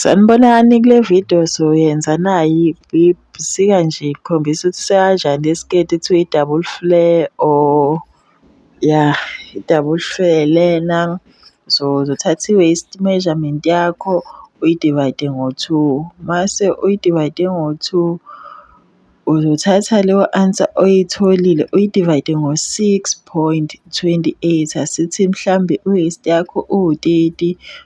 Sanibonani kule vidiyo soyenza nayi ibusika nje ikhombisa ukuthi sekanjani isiketi kuthiwa i-double flare or ya i-double flare lena. So uzothatha i-waist measurement yakho uyidivayide ngo-two, mase uyidivayide ngo-two uzothatha leyo answer oyitholile uyidivayide ngo-six point twenty eight. Asithi mhlambe i-waist yakho iwu-thirty.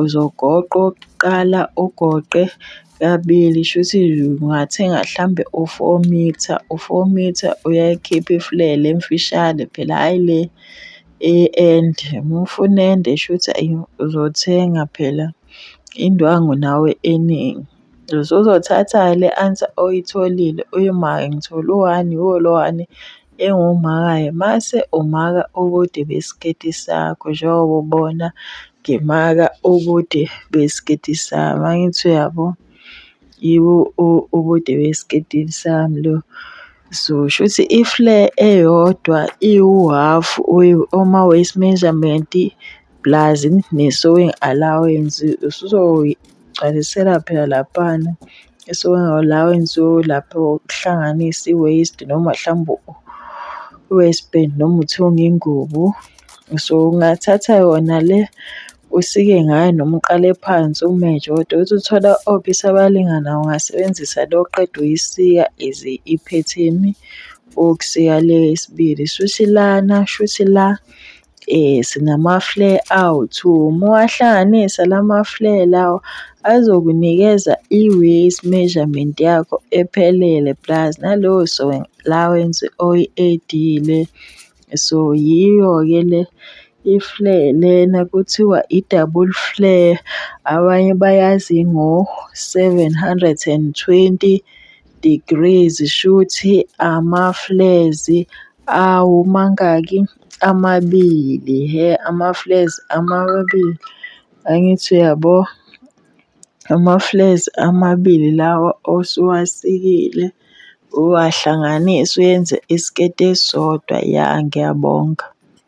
Uzogoqa okokuqala ugoqe kabili shuthi ungathenga hlampe u-four mitha, u-four mitha uyayikhipha ifulele emfishane phela hhayi le ende. Uma ufuna ende shuthi ayi uzothenga phela indwangu nawe eningi. Usuzothatha-ke le answer oyitholile uyimake ngithole u-one, iwulo one engumakayo mase umaka ubude besiketi sakho njengoba ubona ngimaka ubude besiketi sami, angithi uyabo? Yibo ubude besiketi sami lobu. So shuthi i-flare eyodwa iwuhhafu uma u-waist measurement. pulazi ne-sowing allowance usuzogcwalisela phela laphana i-sowing allowance yolapho ukuhlanganisa i-waste noma mhlawumbe u-waste bin noma uthunga ingubo. So, ungathatha yona le usike ngayo noma uqale phansi umeje kodwa uthi uthola opisi abalingana ungasebenzisa le oqeda uyisika as iphethini ukusika le yesibili. Shuthi lana, shuthi la. Eh sinama-flare out uma uwahlanganisa lama-flare lawa azokunikeza i-waist measurement yakho ephelele plus nalowo allowance oyi-edile. So yiyo-ke le i-flare lena kuthiwa i-double flare abanye bayazi ngo-seven hundred and twenty degrees shuthi ama-flares awu mangaki? Amabili hhe amafulezi amabili angithi uyabo amafulezi amabili lawa osuwasikile uwahlanganise uyenze isiketi esisodwa ya ngiyabonga.